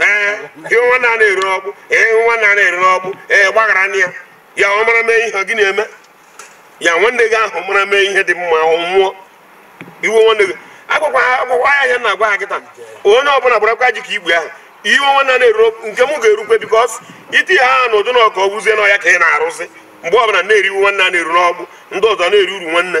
ee iwe nwanne a na-eru n'ọkpụ iwe nwanne a na-eru n'ọkpụ gbaghara na ya ya ọ mara mee ihe gị na-eme ya nwanne gị ahụ mara mee ihe dị mma ọ nwụọ iwe nwanne gị agwakwa ya ya na-agwa ha kịta onye ọbụla gbarakwa ji ka igwe ahụ iwe nwanne a na-eru n'ọkpụ nke m ga-erukwe because iti ha ahụ na ụdị na ọka ọ wụzie na ọ ya ka ị na-arụzi mgbe ọbụla na-eri iwe nwanne a na-eru n'ọkpụ ndị ọzọ na-eri uru nwanne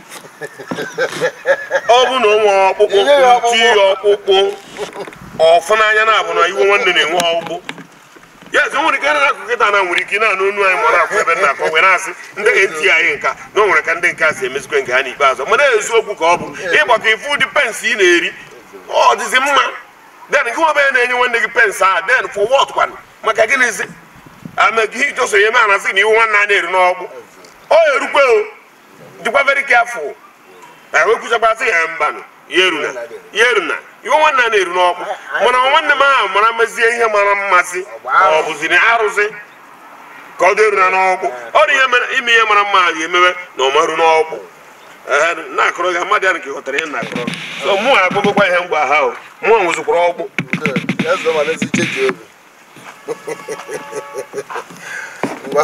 ọ bụ na o nwere ọkpụkpụ Inye ya ọkpụkpụ. nti ya ọkpụkpụ ọfụ n'anya na-abụ na iwe nwanne na-enwe ọkpụkpụ ya ezi o nwere ike na-akọ kịta na nwere ike ị na-anụ onu anyị mara akwụ ebe na-akọ wee na-asị ndị eti anyị nka na o nwere ka ndị nke a si emezikwe nke ha n'ikpeazụ mana eziokwu ka ọ bụ ị gbakọọ ị fụ ụdị pains ị na-eri ọ dịzi mma then gịnwa bịa na-enye nwanne gị pains ahụ then for what kwanụ maka gịnịzi amegị ijọso ihe ma a na-asị na iwe nwanne a na-eru n'ọkpụ ọ erukwe o dịkwa very careful na wee kwuchakwara sị ya mbanụ ya eruna ya eruna iwe nwanne a na-eru n'ọkpụ mana nwanne m ahụ mara mezie ihe mara mma sị ọ bụzi na arụsị ka ọ dị eruna n'ọkpụ ọ dị ihe mere ime ihe mara mma ahụ emewe na ọ ma-eru n'ọkpụ Ee, na-akọrọ gị mmadụ ya nke ghọtara ihe m na-akọrọ so mụ akpọgokwa ihe mgbe ha o mụ nwụzikwara ọkpụ Eze ma n'ezi cheji obi. Ngwa